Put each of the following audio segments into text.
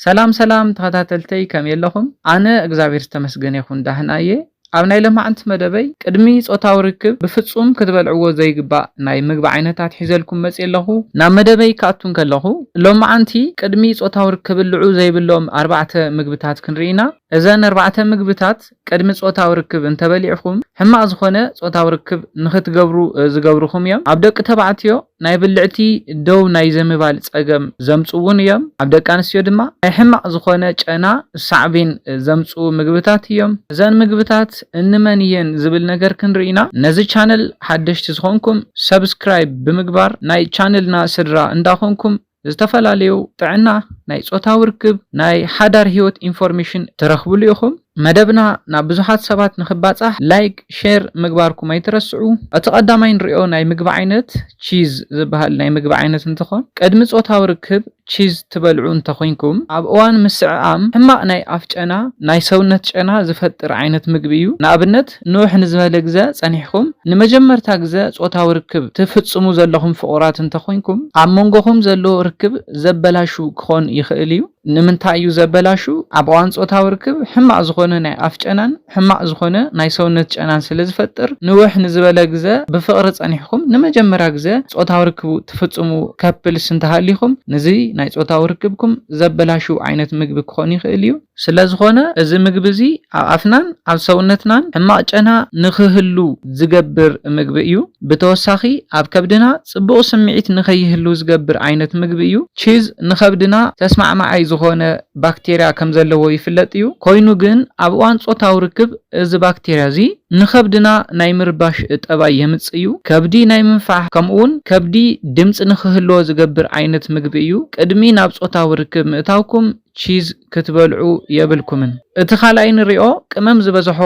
ሰላም ሰላም ተኸታተልተይ ከመይ ኣለኹም ኣነ እግዛብሄር ዝተመስገነ ይኹን ዳህና እየ ኣብ ናይ ለማዕንቲ መደበይ ቅድሚ ጾታዊ ርክብ ብፍጹም ክትበልዕዎ ዘይግባእ ናይ ምግቢ ዓይነታት ሒዘልኩም መጽየ ኣለኹ ናብ መደበይ ክኣቱ እንከለኹ ሎማዓንቲ ቅድሚ ጾታዊ ርክብልዑ ዘይብሎም ኣርባዕተ ምግብታት ክንርኢ ኢና እዘን ኣርባዕተ ምግብታት ቅድሚ ጾታዊ ርክብ እንተበሊዕኹም ሕማቅ ዝኾነ ጾታዊ ርክብ ንኽትገብሩ ዝገብርኹም እዮም ኣብ ደቂ ተባዕትዮ ናይ ብልዕቲ ደው ናይ ዘምባል ጸገም ዘምጽኡ'ውን እዮም። ኣብ ደቂ ኣንስትዮ ድማ ናይ ሕማቕ ዝኾነ ጨና ሳዕቤን ዘምጽኡ ምግብታት እዮም። እዘን ምግብታት እንመን እየን ዝብል ነገር ክንርኢ ኢና። ነዚ ቻነል ሓደሽቲ ዝኾንኩም ሰብስክራይብ ብምግባር ናይ ቻነልና ስድራ እንዳኾንኩም ዝተፈላለዩ ጥዕና፣ ናይ ጾታዊ ርክብ፣ ናይ ሓዳር ህይወት ኢንፎርሜሽን ትረኽብሉ ኢኹም። መደብና ናብ ብዙሓት ሰባት ንኽባጻሕ ላይክ፣ ሼር ምግባርኩም ኣይትረስዑ። እቲ ቀዳማይ ንሪኦ ናይ ምግቢ ዓይነት ቺዝ ዝበሃል ናይ ምግቢ ዓይነት እንትኾን ቅድሚ ጾታዊ ርክብ ቺዝ ትበልዑ እንተኾይንኩም ኣብ እዋን ምስዕዓም ሕማቕ ናይ ኣፍ ጨና፣ ናይ ሰውነት ጨና ዝፈጥር ዓይነት ምግቢ እዩ። ንኣብነት። ንውሕ ንዝበለ ግዘ ፀኒሕኩም ንመጀመርታ ግዘ ፆታዊ ርክብ ትፍፅሙ ዘለኹም ፍቑራት እንተኾይንኩም ኣብ መንጎኹም ዘሎ ርክብ ዘበላሹ ክኾን ይኽእል እዩ። ንምንታይ እዩ ዘበላሹ? ኣብ እዋን ፆታዊ ርክብ ሕማቕ ዝኾነ ናይ ኣፍ ጨናን ሕማቕ ዝኾነ ናይ ሰውነት ጨናን ስለዝፈጥር ንውሕ ንዝበለ ግዘ ብፍቕሪ ፀኒሕኩም ንመጀመርያ ግዘ ፆታዊ ርክብ ትፍፅሙ ከፕልስ እንተሃሊኹም ንዚ ናይ ፆታዊ ርክብኩም ዘበላሹ ዓይነት ምግቢ ክኾን ይኽእል እዩ። ስለዝኾነ እዚ ምግቢ እዚ ኣብ ኣፍናን ኣብ ሰውነትናን ሕማቕ ጨና ንኽህሉ ዝገብር ምግቢ እዩ። ብተወሳኺ ኣብ ከብድና ጽቡቕ ስምዒት ንኸይህሉ ዝገብር ዓይነት ምግቢ እዩ። ቺዝ ንኸብድና ተስማዕማዓይ ዝኾነ ባክቴርያ ከም ዘለዎ ይፍለጥ እዩ። ኮይኑ ግን ኣብ እዋን ጾታዊ ርክብ እዚ ባክቴርያ እዚ ንኸብድና ናይ ምርባሽ ጠባይ የምጽእ እዩ። ከብዲ ናይ ምንፋሕ ከምኡውን ከብዲ ድምጺ ንኽህልዎ ዝገብር ዓይነት ምግቢ እዩ። ቅድሚ ናብ ጾታዊ ርክብ ምእታውኩም ቺዝ ክትበልዑ የብልኩምን። እቲ ካልኣይ ንሪኦ ቅመም ዝበዝሖ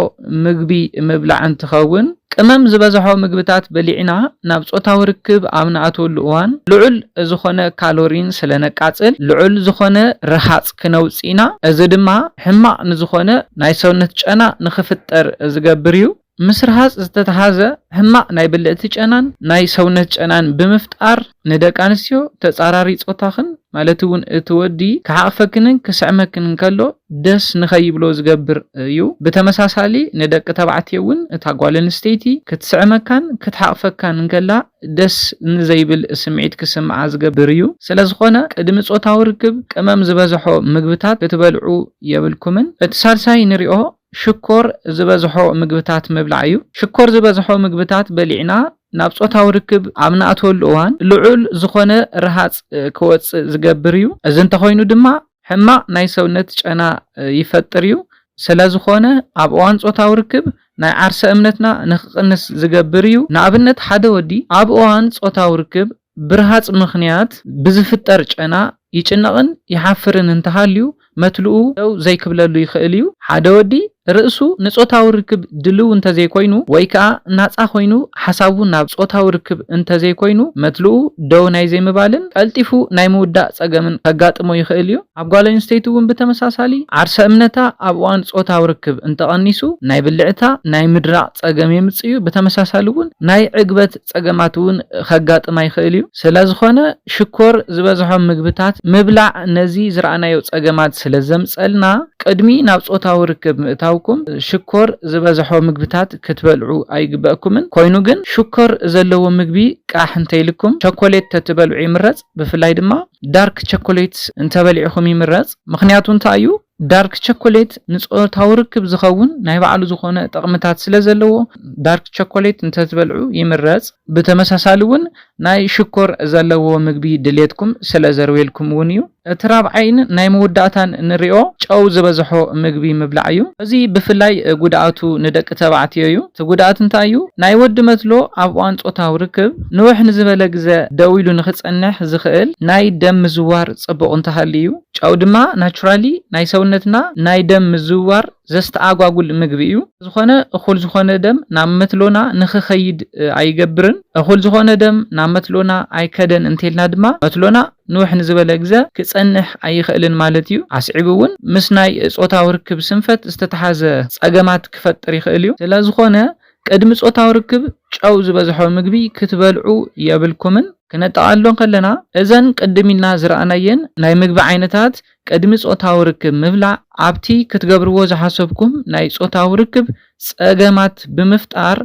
ምግቢ ምብላዕ እንትኸውን፣ ቅመም ዝበዝሖ ምግብታት በሊዕና ናብ ፆታዊ ርክብ ኣብ ንኣትወሉ እዋን ልዑል ዝኾነ ካሎሪን ስለነቃፅል ልዑል ዝኾነ ርሃፅ ክነውፅእ ኢና። እዚ ድማ ሕማቕ ንዝኾነ ናይ ሰውነት ጨና ንኽፍጠር ዝገብር ዩ። ምስ ርሃጽ ዝተተሓዘ ሕማቕ ናይ ብልዕቲ ጨናን ናይ ሰውነት ጨናን ብምፍጣር ንደቂ ኣንስትዮ ተጻራሪ ጾታኽን ማለት'ውን እቲ ወዲ ክሓቕፈክንን ክስዕመክንን ከሎ ደስ ንኸይብሎ ዝገብር እዩ። ብተመሳሳሊ ንደቂ ተባዕትዮ እውን እታ ጓል ኣንስተይቲ ክትስዕመካን ክትሓቕፈካን እንከላ ደስ ንዘይብል ስምዒት ክስምዓ ዝገብር እዩ። ስለዝኾነ ቅድሚ ጾታዊ ርክብ ቅመም ዝበዘሖ ምግብታት ክትበልዑ የብልኩምን። እቲ ሳልሳይ ንሪኦ ሽኮር ዝበዝሖ ምግብታት ምብላዕ እዩ። ሽኮር ዝበዝሖ ምግብታት በሊዕና ናብ ጾታዊ ርክብ ኣብ ንኣትወሉ እዋን ልዑል ዝኾነ ረሃጽ ክወጽእ ዝገብር እዩ። እዚ እንተኾይኑ ድማ ሕማቕ ናይ ሰውነት ጨና ይፈጥር እዩ። ስለዝኾነ ኣብ እዋን ጾታዊ ርክብ ናይ ዓርሰ እምነትና ንክቕንስ ዝገብር እዩ። ንኣብነት ሓደ ወዲ ኣብ እዋን ጾታዊ ርክብ ብርሃጽ ምኽንያት ብዝፍጠር ጨና ይጭነቕን ይሓፍርን እንተሃልዩ መትልኡ ደው ዘይክብለሉ ይኽእል እዩ። ሓደ ወዲ ርእሱ ንጾታዊ ርክብ ድልው እንተዘይኮይኑ ወይ ከኣ ናጻ ኮይኑ ሓሳቡ ናብ ጾታዊ ርክብ እንተዘይኮይኑ መትልኡ ደው ናይ ዘይምባልን ቀልጢፉ ናይ ምውዳእ ጸገምን ከጋጥሞ ይኽእል እዩ። ኣብ ጓል ኣንስተይቲ እውን ብተመሳሳሊ ዓርሰ እምነታ ኣብ እዋን ጾታዊ ርክብ እንተቐኒሱ ናይ ብልዕታ ናይ ምድራቕ ጸገም የምጽእ እዩ፣ ብተመሳሳሊ እውን ናይ ዕግበት ጸገማት እውን ከጋጥማ ይኽእል እዩ። ስለዝኾነ ሽኮር ዝበዝሖም ምግብታት ምብላዕ ነዚ ዝረኣናዮ ጸገማት ስለዘምጸልና ቅድሚ ናብ ጾታዊ ርክብ ምእታውኩም ሽኮር ዝበዝሖ ምግብታት ክትበልዑ ኣይግበእኩምን። ኮይኑ ግን ሽኮር ዘለዎ ምግቢ ቃሕ እንተይልኩም ቸኮሌት ተትበልዑ ይምረጽ ብፍላይ ድማ ዳርክ ቸኮሌት እንተበሊዕኹም ይምረጽ። ምኽንያቱ እንታይ እዩ? ዳርክ ቸኮሌት ንጾታዊ ርክብ ዝኸውን ናይ ባዕሉ ዝኾነ ጠቕምታት ስለ ዘለዎ ዳርክ ቸኮሌት እንተትበልዑ ይምረጽ። ብተመሳሳሊ እውን ናይ ሽኮር ዘለዎ ምግቢ ድሌትኩም ስለ ዘርውየልኩም እውን እዩ። እቲ ራብዓይን ናይ መወዳእታን እንሪኦ ጨው ዝበዝሖ ምግቢ ምብላዕ እዩ። እዚ ብፍላይ ጉድኣቱ ንደቂ ተባዕትዮ እዩ። እቲ ጉድኣት እንታይ እዩ? ናይ ወዲ መትሎ ኣብ እዋን ጾታዊ ርክብ ንውሕ ንዝበለ ግዘ ደው ኢሉ ንክጸንሕ ዝኽእል ናይ ደም ምዝዋር ጽቡቕ እንተሃልዩ እዩ። ጨው ድማ ናቹራሊ ናይ ሰውነትና ናይ ደም ምዝውዋር ዘስተኣጓጉል ምግቢ እዩ። ዝኾነ እኹል ዝኾነ ደም ናብ መትሎና ንኽኸይድ ኣይገብርን። እኹል ዝኾነ ደም ናብ መትሎና ኣይከደን እንተልና ድማ መትሎና ንውሕ ንዝበለ ግዘ ክፀንሕ ኣይኽእልን ማለት እዩ። ኣስዒቡ እውን ምስ ናይ ፆታዊ ርክብ ስንፈት ዝተተሓዘ ፀገማት ክፈጥር ይኽእል እዩ። ስለዝኾነ ቅድሚ ጾታዊ ርክብ ጨው ዝበዝሖ ምግቢ ክትበልዑ የብልኩምን። ክነጠቓሎ እንከለና፣ እዘን ቅድም ኢልና ዝረኣናየን ናይ ምግቢ ዓይነታት ቅድሚ ጾታዊ ርክብ ምብላዕ ኣብቲ ክትገብርዎ ዝሓሰብኩም ናይ ጾታዊ ርክብ ጸገማት ብምፍጣር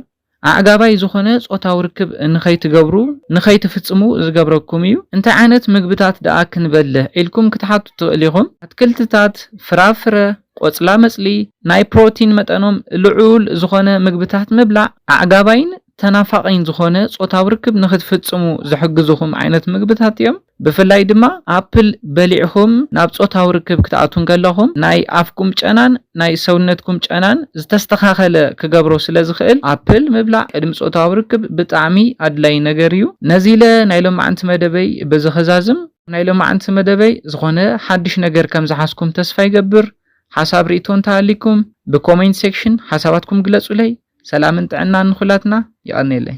ኣዕጋባይ ዝኾነ ጾታዊ ርክብ ንኸይትገብሩ፣ ንኸይትፍጽሙ፣ ዝገብረኩም እዩ። እንታይ ዓይነት ምግብታት ደኣ ክንበልዕ ኢልኩም ክትሓቱ ትኽእሉ ኢኹም። ኣትክልትታት፣ ፍራፍረ፣ ቆጽላመጽሊ፣ ናይ ፕሮቲን መጠኖም ልዑል ዝኾነ ምግብታት ምብላዕ፣ ኣዕጋባይን ተናፋቒን ዝኾነ ጾታዊ ርክብ ንኽትፍጽሙ ዝሕግዙኹም ዓይነት ምግብታት እዮም። ብፍላይ ድማ ኣፕል በሊዕኩም ናብ ጾታዊ ርክብ ክትኣትዉ እንከለኹም ናይ ኣፍኩም ጨናን ናይ ሰውነትኩም ጨናን ዝተስተኻኸለ ክገብሮ ስለዝኽእል ኣፕል ምብላዕ ቅድሚ ጾታዊ ርክብ ብጣዕሚ ኣድላይ ነገር እዩ። ነዚ ኢለ ናይ ሎምዓንቲ መደበይ በዚ ከዛዝም። ናይ ሎማዕንቲ መደበይ ዝኾነ ሓድሽ ነገር ከም ዝሓዝኩም ተስፋ ይገብር ሓሳብ ሪኢቶ እንተሃሊኩም ብ ኮሜንት ሴክሽን ሓሳባትኩም ግለጹለይ ሰላምን ጥዕናን ንኹላትና የቀኔለይ።